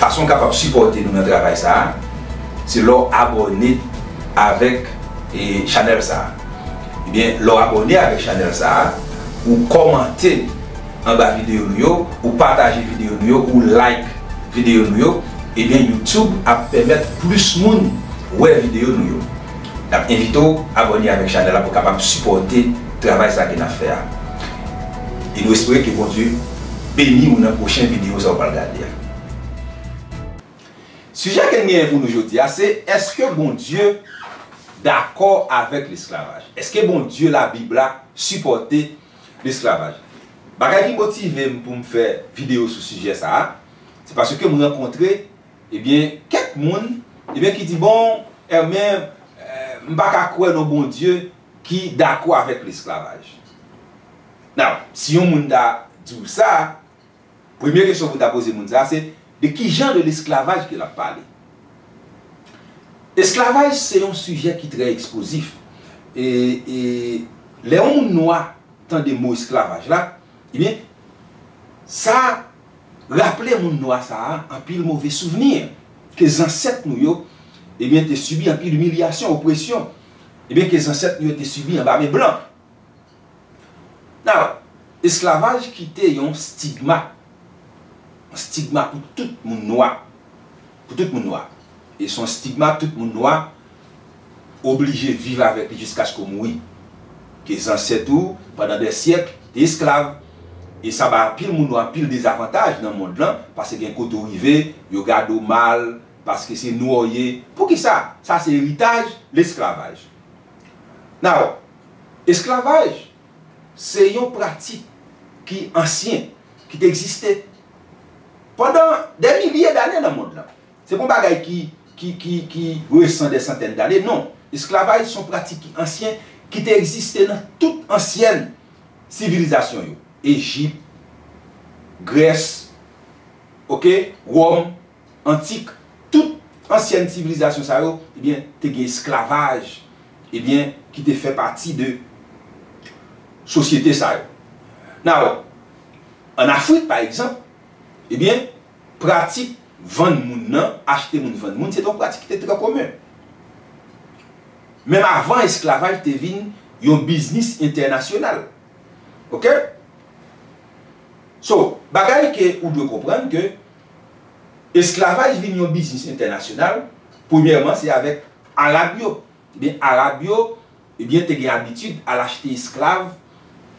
Fason w kapab sipòte nou nan travay sa a, se lè w abòne avèk chanèl sa a. Ebyen, lè w abòne avèk chanèl sa a, ou kòmante anba videyo nou yo, ou pataje videyo nou yo, ou like videyo nou yo, ebyen YouTube ap pèmèt plis moun wè videyo nou yo. Nap envite w abòne avèk chanèl la pou kapab sipòte travay sa ke nap fè a e nou espere ke Bondye beni w nan pwochen videyo sa ou pral gade a. Sijè ke n genyen pou nou jodi a se eske Bondye dakò avèk lesklavaj? Eske Bondye labib la sipòte lesklavaj? Bagay ki motive m pou m fè videyo sou sijè sa a se paske m rankontre Ebyen kèk moun ebyen ki di bon Hermé m pa ka kwè nan Bondye ki dakò avèk lesklavaj. Now, si yon moun ta di w sa, premye kesyon pou w ta poze moun sa se de ki jan de lesklavaj ke l ap pale? Esklavaj se yon sijè ki trè eksplozif e lè yon moun nwa tande mo esklavaj la ebyen sa raple moun nwa sa a anpil move souvni, ke zansèt nou yo, ebyen te sibi anpil imilyasyon, opresyon, ebyen ke zansèt nou yo te sibi anba men blan. Now, esklavaj kite yon stigma, yon stigma pou tout moun nwa. pou tout moun nwa. E son stigma tout moun nwa oblije viv avèk li jiskaske w mouri. Ke zansèt ou, pandan dè syèk, te esklav. E sa bay anpil moun nwa anpil dezavantaj nan mond lan, paske gen kote w rive, yo gade w mal, paske se nwa w ye. Poukisa? Sa se eritaj lesklavaj. Now, esklavaj se yon pratik ki ansyen, ki te egziste Pandan dè milye dane nan mond lan. Se pa yon bagay ki resan dè santèn dane, non. Esklavaj se yon pratik ki ansyen, ki te egziste nan tout ansyen sivilizasyon yo. Ejip, Grès, ok, Wòm, antik, tout ansyèn sivilizasyon sa yo ebyen te gen esklavaj ebyen ki te fè pati de sosyete sa yo. Now, an Afrik pa egzanp, ebyen pratik vann moun nan, achte moun vann moun se te yon pratik ki te trè komen. Menm avan esklavaj te vin yon biznis entènasyonal. Ok? So, bagay ke ou dwe konprann ke esklavaj vin yon biznis entènasyonal, premyèman se avèk Arab yo. Ebyen Arab yo ebyen te gen abitid al achte esklav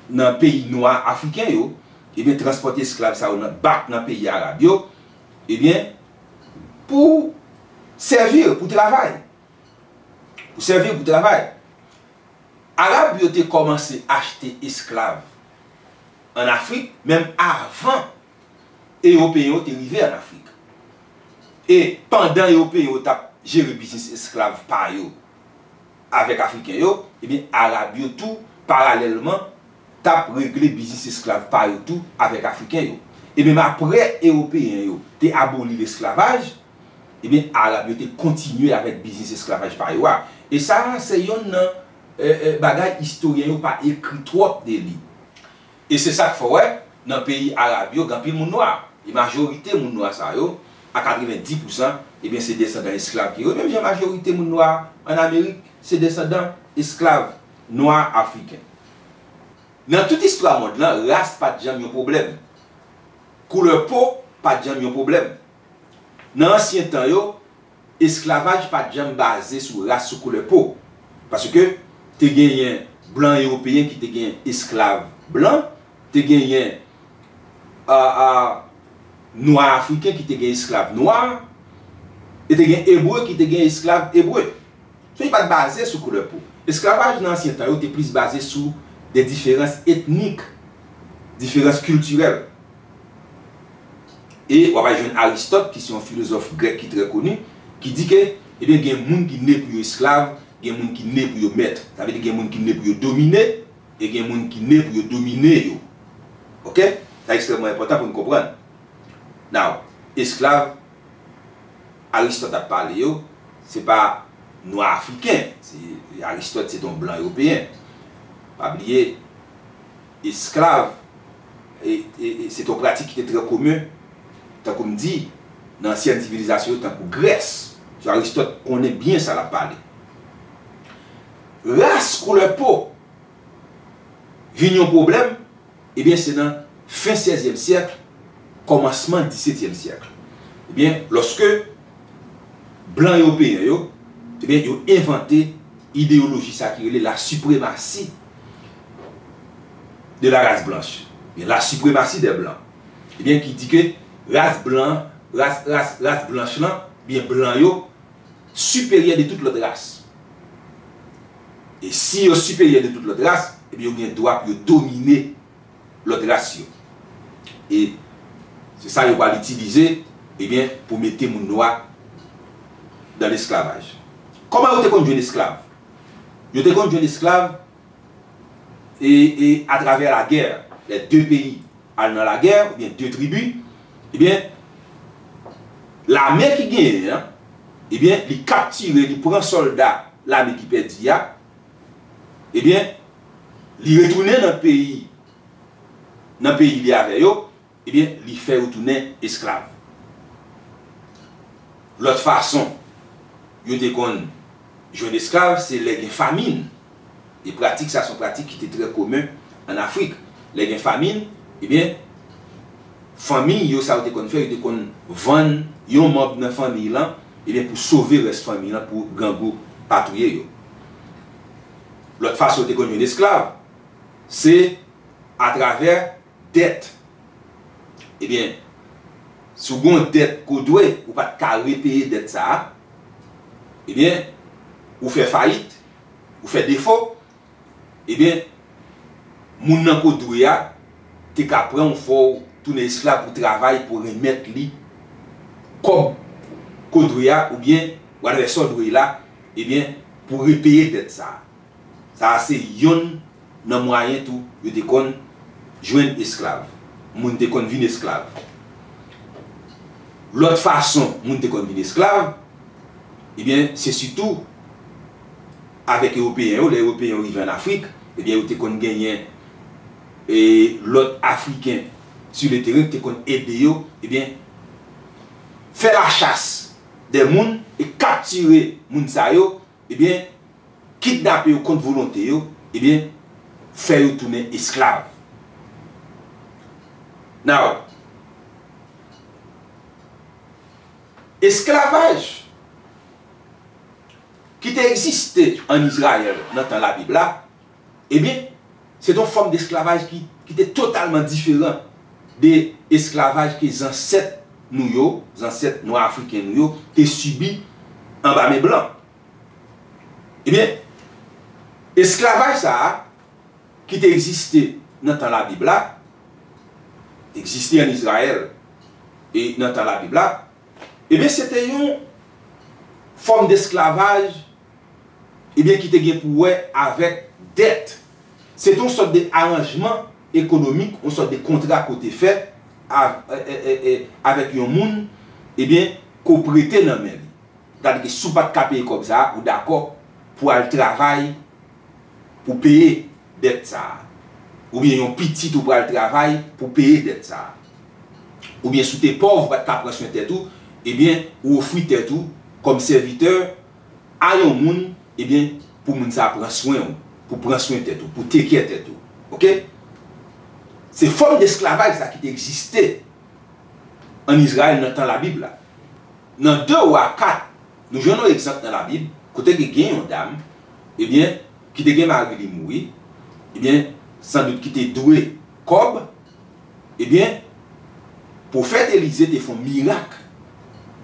nan peyi nwa Afriken yo, ebyen transpòte esklav sa yo nan bak nan peyi Arab yo, ebyen pou sèvir, pou travay. Pou sèvir, pou travay. Arab yo te kòmanse achte esklav an Afrik menm avan. Ewopeyen yo te rive ann Afrik. E, pandan Ewopeyen yo t ap jere biznis esklav pa yo avèk Afriken yo, ebyen, Arab yo tou, paralèlman, t ap regle biznis esklav pa yo tou avèk Afriken yo. E menm apre Ewopeyen yo te aboli lesklavaj, ebyen, Arab yo te kontinye avèk biznis esklavaj pa yo a. E sa a, se youn nan bagay istoryen yo pa ekri twòp de li. E se sa k fè w wè nan peyi arab yo gen anpil moun nwa. E majorite moun nwa sa yo, a 90 pousan, ebyen se desandan esklav ki yo. Menm jan majorite moun nwa an Amerik se desandan esklav nwa afriken. Nan tout istwa mond lan, ras pa t janm yon pwoblèm. Koulè po pa t janm yon pwoblèm. Nan ansyen tan yo. Esklavaj pa t janm baze sou ras, sou koulè po. Paske, te genyen blan ewopeyen ki te gen esklav blan, te genyen nwa afriken ki te gen esklav nwa, e te gen ebre ki te gen esklav ebre. So, li pa t baze sou koulè po. Esklavaj nan ansyen tan yo te plis baze sou de diferans etnik, diferans kiltirèl. E w ap al jwenn Aristòt ki se yon filozòf grèk ki trè koni, ki di ke, ebyen gen moun ki ne pou yo esklav, gen moun ki ne pou yo mèt. Sa vle di gen moun ki ne pou yo domine, e gen moun ki ne pou yo domine yo. Ok? Sa ekstrèmman enpòtan pou n konprann. Now, esklav Aristòt ap pale yo, se pa nwa afriken. Aristòt se te yon blan ewopeyen. Pa bliye. esklav, e se te yon pratik ki te trè komen, tankou m di, nan ansyen sivilizasyon yo tankou Grès. So Aristòt konnen byen sa l ap pale. Ras, koulè po, vin yon pwoblèm, ebyen se nan fen sèzyèm syèk, kòmansman disetyèm syèk. Ebyen, lòske blan ewopeyen yo, ebyen yo envante ideyoloji sa ki rele lasipremasi. de la race blanche, ebyen la suprematie des blancs, ebyen ki di ke ras blan, ras, ras, ras blanch lan, ebyen blan yo siperyè de tout lòt ras. E si yo siperyè de tout lòt ras, ebyen yo gen dwa pou yo domine lòt ras yo. E se sa yo pral itilize, ebyen pou mete moun nwa dan lesklavaj. Kòman yo te konn jwenn esklav? Yo te konn jwenn esklav e e atravè lagè lè de peyi al nan lagè oubyen de tribi ebyen lame ki genyen an ebyen li kaptire li pran sòlda lame ki pèdi a ebyen li retounen nan peyi nan peyi li avè yo Ebyen, li fè yo tounen esklav. Lòt fason yo te konn jwenn esklav se lè gen famin. E pratik sa se yon pratik ki te trè komen ann Afrik. Lè gen famin, ebyen, fanmi yo sa yo te konn fè, yo te konn vann yon manb nan fanmi lan, ebyen, pou sove rès fanmi lan pou grangou pa touye yo. Lòt fason yo te konn jwenn esklav se atravè. Dèt Ebyen, si w gen yon dèt ke w dwe, ou pa t ka repeye dèt sa a, ebyen, ou fè fayit, ou fè defo, ebyen, moun nan ke w dwe a te ka pran w, fè w tounen esklav pou w travay pou w renmèt li kòb ke w dwe a oubyen whatever sa w dwe la, ebyen, pou w repeye dèt sa a. Sa a se yonn nan mwayen tou yo te konn jwenn esklav. Moun te konn vin esklav. Lòt fason moun te konn vin esklav, ebyen, se sitou avèk Ewopeyen yo. Lè Ewopeyen yo rive ann Afrik, ebyen, yo te konn genyen lòt Afriken si le teren ki te konn ede yo, ebyen, fè lachas de moun e kaptire moun sa yo. Ebyen, kidnape yo kont volonte yo, ebyen, fè yo tounen esklav. Now, esklavaj ki te egziste ann Izrayèl nan tan Labib la, Ebyen, se te yon fòm desklavaj ki te totalman diferan de esklavaj ke zansèt nou yo, zansèt nwa afriken nou yo, te sibi anba men blan. Ebyen, esklavaj sa a, ki te egziste nan tan Labib la, egziste an Izrayèl e nan tan Labib la, ebyen se te yon fòm desklavaj ebyen ki te gen pou wè avèk dèt. Se te yon sòt de aranjman ekonomik, yon sòt de kontra ke w te fè avèk yon moun, ebyen ke w prete nan men li. Sètadi ke si w pa t ka peye kòb sa a, ou dakò pou al travay pou peye dèt sa a. Oubyen yon pitit ou pral travay pou peye dèt sa a. Oubyen si w te pòv, ou pa t ka pran swen tèt ou, ebyen ou ofri tèt ou kòm sèvitè, a yon moun ebyen pou moun sa pran swen ou pou pran swen tèt ou pou take care tèt ou ok se fòm desklavaj sa ki te egziste an Izrayèl nan tan labib la nan 2 wa 4 nou jwenn yon egzanp nan labib kote ke gen yon dam ebyen ki te gen mari li mouri ebyen san dout ki te dwe kòb. Ebyen, pwofèt Elize te fon mirak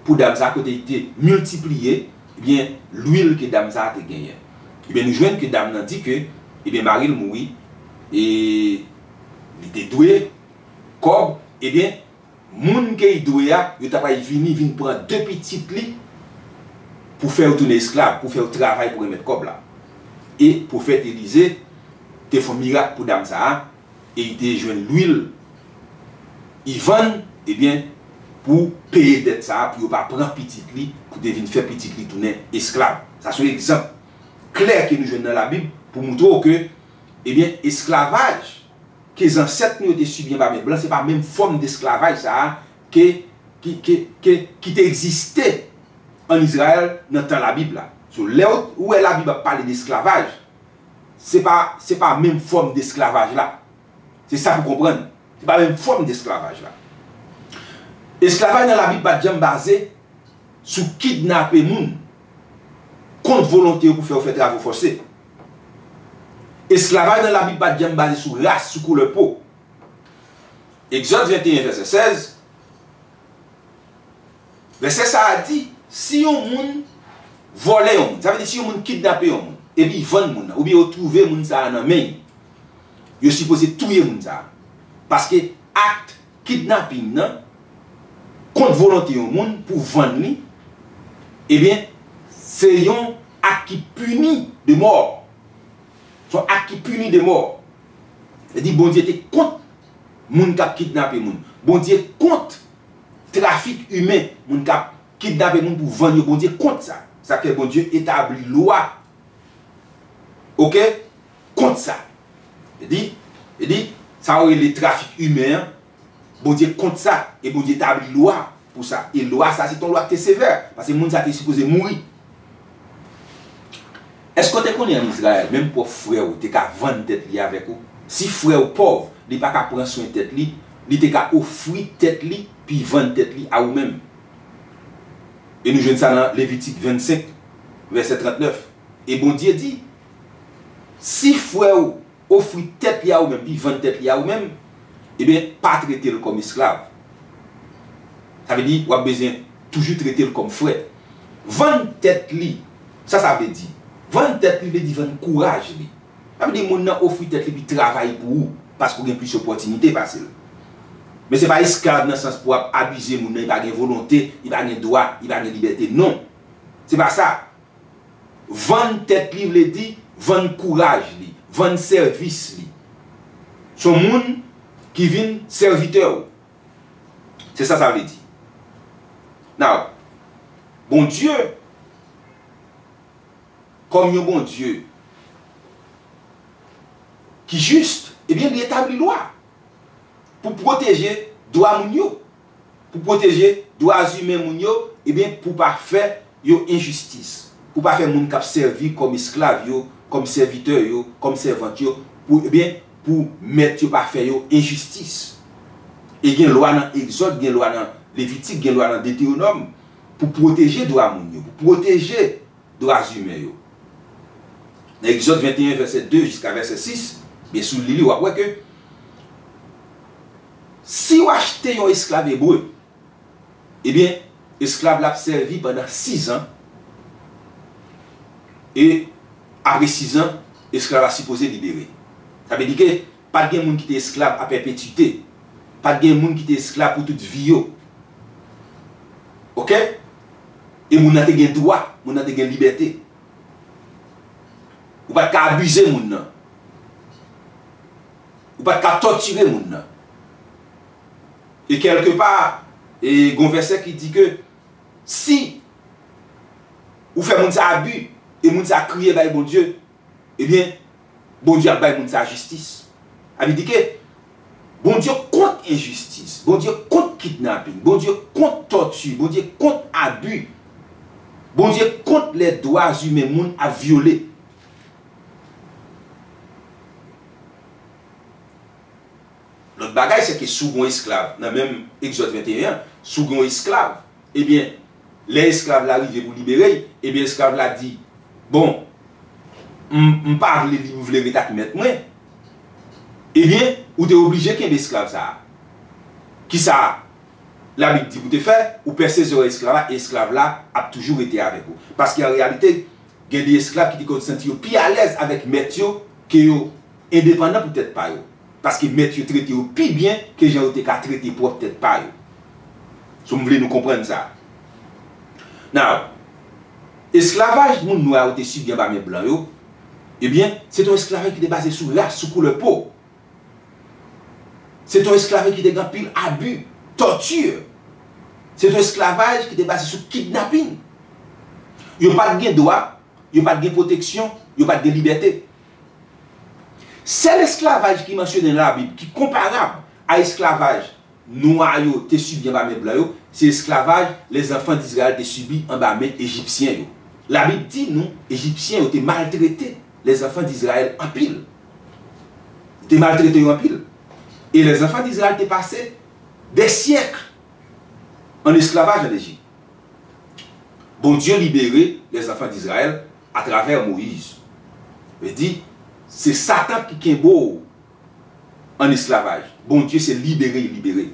pou dam sa kote li te miltipliye, ebyen, lwil ke dam sa te genyen. Ebyen, nou jwenn ke dam nan di ke, ebyen, mari l mouri e li te dwe kòb, ebyen, moun ke li dwe a, yo ta pral vini vin pran de pitit li pou fè yo tounen esklav, pou fè yo travay pou remèt kòb la. E pwofèt Elize te fon mirak pou dam sa a, e li te jwenn lwil li vann ebyen pou peye dèt sa pou yo pa pran pitit li pou te vin fè pitit li tounen esklav sa son egzanp klè ke nou jwenn nan labib pou moutre w ke ebyen esklavaj ke zansèt nou yo te sibi anba men blan se pa menm fòm desklavaj sa ke ke ki te egziste an Izrayèl nan tan labib la sou lè ou wè labib ap pale desklavaj. Se pa, se pa menm fòm desklavaj la. Se sa pou konprann. Se pa menm fòm desklavaj la. Esklavaj nan Labib pa t janm baze sou kidnape moun kont volonte yo pou fè yo fè travo fòse. Esklavaj nan Labib pa t janm baze sou ras, sou koulè po. Egzòd 21, vèsè 16. Vèsè sa a di, si yon moun vòlè yon moun, sa vle di si yon moun kidnape yon moun, epi y vann moun nan, oubyen yo twouve moun sa a nan men yo, yo sipoze touye moun sa a. Paske akt kidnaping nan, kont volonte yon moun pou vann li, ebyen, se yon akt ki pini de mò. Se yon akt ki pini de mò. Sa vle di Bondye te kont moun k ap kidnape moun. Bondye kont. Trafik imen, moun k ap kidnape moun pou vann yo Bondye kont sa. Sa k fè Bondye etabli lwa ok kont sa. Li di, li di, sa yo rele trafik imen an, Bondye kont sa e Bondye tabli lwa pou sa. E lwa sa se te yon lwa k te sevè, pase moun sa te sipoze mouri. Èske w te konnen ann Izrayèl, menm pwòp frè w te ka vann tèt li avèk ou? Si frè w pòv, li pa ka pran swen tèt li, li te ka ofri tèt li pi vann tèt li a ou menm. E nou jwenn sa nan Levitik 25, vèsè 39. E Bondye di, Si frè w ofri tèt li a ou menm, li vann tèt li a ou menm, ebyen pa trete l kòm esklav. Sa vle di, w ap bezwen toujou trete l kòm frè. Vann tèt li, sa sa vle di? Vann tèt li vle di vann kouraj li. Sa vle di moun nan ofri tèt li epi travay pou ou paske ou gen plis opòtinite pase l. Men se pa esklav nan sans pou w ap abize moun nan, li pa gen volonte, li pa gen dwa, li pa gen libète. Non! Se pa sa. Vann tèt li vle di vann kouraj li, vann sèvis li. S on moun ki vin sèvitè ou. Se sa sa vle di. Now, Bondye, kòm yon Bondye ki jis, ebyen li etabli lwa pou pwoteje dwa moun yo. pou pwoteje dwa zimen moun yo, ebyen pou pa fè yo enjistis, pou pa fè moun k ap sèvi kòm esklav yo, kòm sèvitè yo, kòm sèvant yo, pou, ebyen, pou mèt yo pa fè yo enjistis. E gen lwa nan Egzòd, gen lwa nan Levitik, gen lwa nan Detewonòm pou pwoteje dwa moun yo, pou pwoteje dwa zimen yo. Nan Egzòd 21 vèsè 2 jiska vèsè 6, ebyen si w li li w ap wè ke, Si w achte yon esklav ebre, ebyen, esklav la ap sèvi pandan sizan, e apre sizan, esklav la sipoze libere. Sa vle di ke pa t gen moun ki te esklav a pèpetite. Pa t gen moun ki te esklav pou tout vi yo. Oke? E moun nan te gen dwa, moun nan te gen libète. Ou pa t ka abize moun nan. ou pat ka tòtire moun nan. E kèlke pa, e gon vèsè ki di ke si ou fè moun sa abi, e moun sa kriye bay Bondye, ebyen Bondye ap bay moun sa jistis. A vle di ke Bondye kont enjistis, Bondye kont kidnaping, Bondye kont tòti, Bondye kont abi, Bondye kont lè dwa zimen moun ap vyole. Lòt bagay se ke si w gen yon esklav nan menm Egzòd 21 an, si w gen yon esklav, ebyen, lè esklav la rive pou libere l, ebyen esklav la di, Bon, m pa vle li, m vle ret ak mèt mwen. Ebyen, ou te oblije kenbe esklav sa a. Kisa Labib di pou te fè? Ou pèse zòrèy esklav la e esklav la ap toujou rete avèk ou. Paske an reyalite, Gen de esklav ki te konn santi yo pi alèz avèk mèt yo ke yo endepandan pou tèt pa yo, paske mèt yo trete yo pi byen ke jan yo te ka trete pwòp tèt pa yo. So, m vle nou konprann sa. Now, esklavaj moun nwa yo te sibi anba men blan yo, ebyen, se te yon esklavaj ki te baze sou ras, sou koulè po. Se t on esklave ki te gen anpil abi, torture. Se t on esklavaj ki te baze sou kidnapin. Yo pa t gen dwa, yo pa t gen pwoteksyon, yo pa t gen libète. Sèl esklavaj ki mansyone nan Labib ki konparab a esklavaj nwa yo te sibi anba men blan yo, se esklavaj lè zanfan Dizrayèl te sibi anba men Ejipsyen yo. Labib di nou Ejipsyen yo te maltrete lè zanfan Dizrayèl anpil. Li te maltrete yo anpil. E lè zanfan Dizrayèl te pase dè syèk ann esklavaj ann Ejip, Bondye libere lè zanfan Dizrayèl atravè Moyiz. Vle di, se Satan ki kenbe w ann esklavaj. Bondye se libere li libere.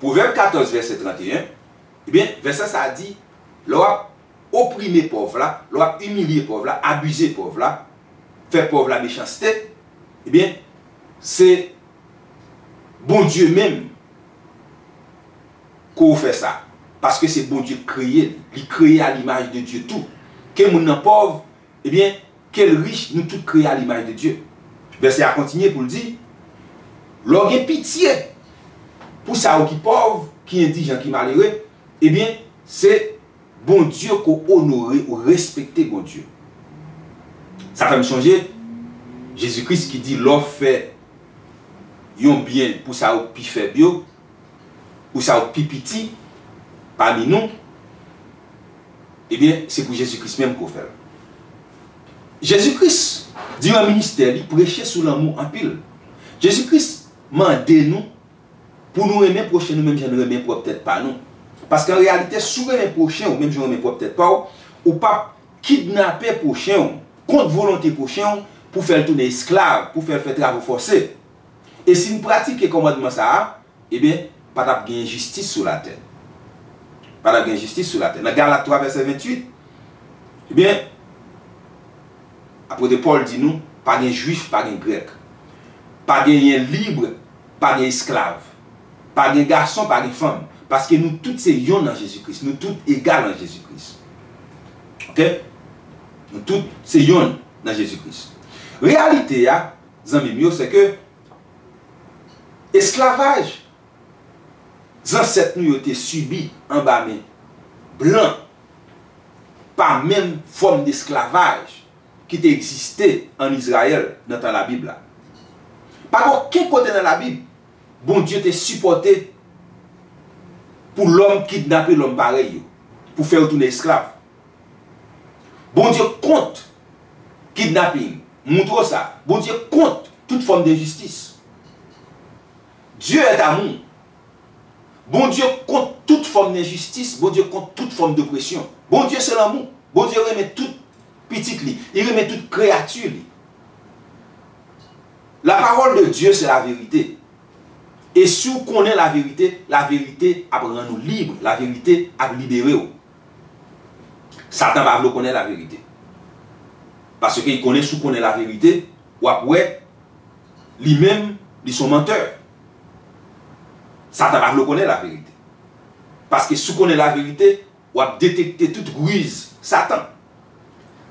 Pwovèb 14 vèsè 31, ebyen, vèsè sa a di, lè w ap. oprime pòv la, lè w ap imilye pòv la, abize pòv la, fè pòv la mechanste, ebyen, se Bondye menm ke w fè sa, paske se Bondye k kreye l, li kreye a limaj de Dye tou. Ke moun nan pòv, ebyen, ke l rich, nou tout kreye a limaj de Dye. Vèsè a kontinye pou l di, Lè w gen pitye pou sa yo ki pòv, ki endijan, ki malere, Ebyen se Bondye ke w onore ou respekte Bondye. Sa fè m sonje Jezi Kris ki di lè w fè yon byen pou sa yo k pi fèb yo, pou sa yo k pi piti pami nou, ebyen se pou Jezi Kris menm ke w fè l. Jezi Kris diran ministè li preche sou lanmou anpil. Jezi Kris mande nou. pou nou renmen pwochen nou menm jan nou renmen pwòp tèt pa nou. Paske an reyalite, si w renmen pwochen w menm jan w renmen pwòp tèt pa w, ou p ap kidnape pwochen w kont volonte pwochen w pou w fè l tounen esklav, pou w fè l fè travo fòse. E si n pratike kòmandman sa a, enben, pa t ap gen enjistis sou latè. Pa t ap gen enjistis sou latè. Nan Galat 3, vèsè 28, enben, apwote Pòl di nou, pa gen Juif, pa gen Grèk, pa genyen lib, pa gen esklav, pa gen gason, pa gen fanm, paske nou tout se yon nan Jezi Kris, nou tout egal an Jezi Kris. Ok! Nou tout se yonn nan Jezi Kris. Reyalite a, zanmi m yo, se ke esklavaj zansèt nou yo te sibi anba men blan pa menm fòm desklavaj ki te egziste ann Izrayèl nan tan Labib la. Pa gen okenn kote nan Labib Bondye te sipòte pou lòm kidnape lòm parèy yo pou fè yo tounen esklav. Bondye kont kidnaping. Montre w sa. Bondye kont tout fòm denjistis. Dieu est amour. Bondye kont tout fòm denjistis, Bondye kont tout fòm dopresyon. Bondye se lanmou. Bondye renmen tout. Pitit li. Li renmen tout kreyati li. La parole de Dieu c'est la vérité e si w konnen la vérité, la vérité ap rann ou libre, la vérité ap libere w. Satan pa vle w konnen la vérité. Paske li konnen si w konnen la vérité, w ap wè li menm li son menteur. Satan pa vle w konnen la vérité. Paske si w konnen la vérité, w ap detekte tout riz Satan.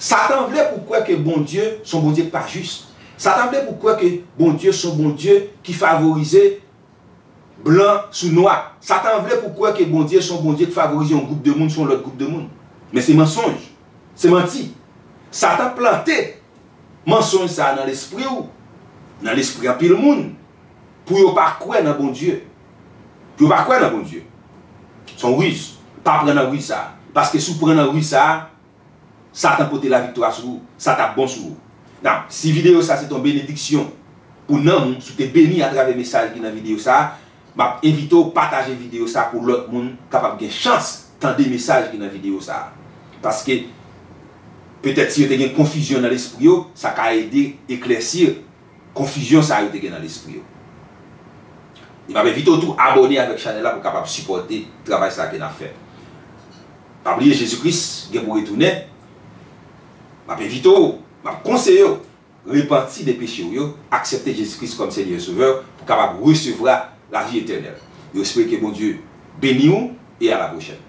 Satan vle pou w kwè ke Bondye s on Bondye k pa jis. Satan vle pou w kwè ke Bondye s on Bondye ki favorize blan sou nwa. Satan vle pou w kwè ke Bondye s on Bondye k favorize yon gwoup de moun sou yon lòt gwoup de moun. Men se mansonj. Se manti. Satan plante mansonj sa a nan lespri w, nan lespri anpil moun, pou yo pa kwè nan Bondye. Yo pa kwè nan Bondye. Son riz. Pa pran nan riz sa. Paske si w pran nan riz sa, satan pote la viktwa sou ou. Sa tap bon sou ou. Now, si video sa se te yon benediksyon pou nanm ou, si w te beni atravè mesaj ki nan video sa, map envite w pataje video sa pou lòt moun kapab gen chans tande mesaj ki nan video sa. Paske petèt si yo te gen konfizyon nan lespri yo, sa ka ede eklèsi konfizyon sa yo te gen nan lespri yo. E map envite w tou abone avèk chanèl la pou kapab sipòte travay sa ke nap fè. Pa bliye Jezi Kris gen pou retounen, map envite w, map konseye w repanti de peche w yo, aksepte Jezi Kris kòm Senyè e Sovè w pou kapab resevra lavi etènèl. Nou espere ke Bondye beni w e a la pwochèn.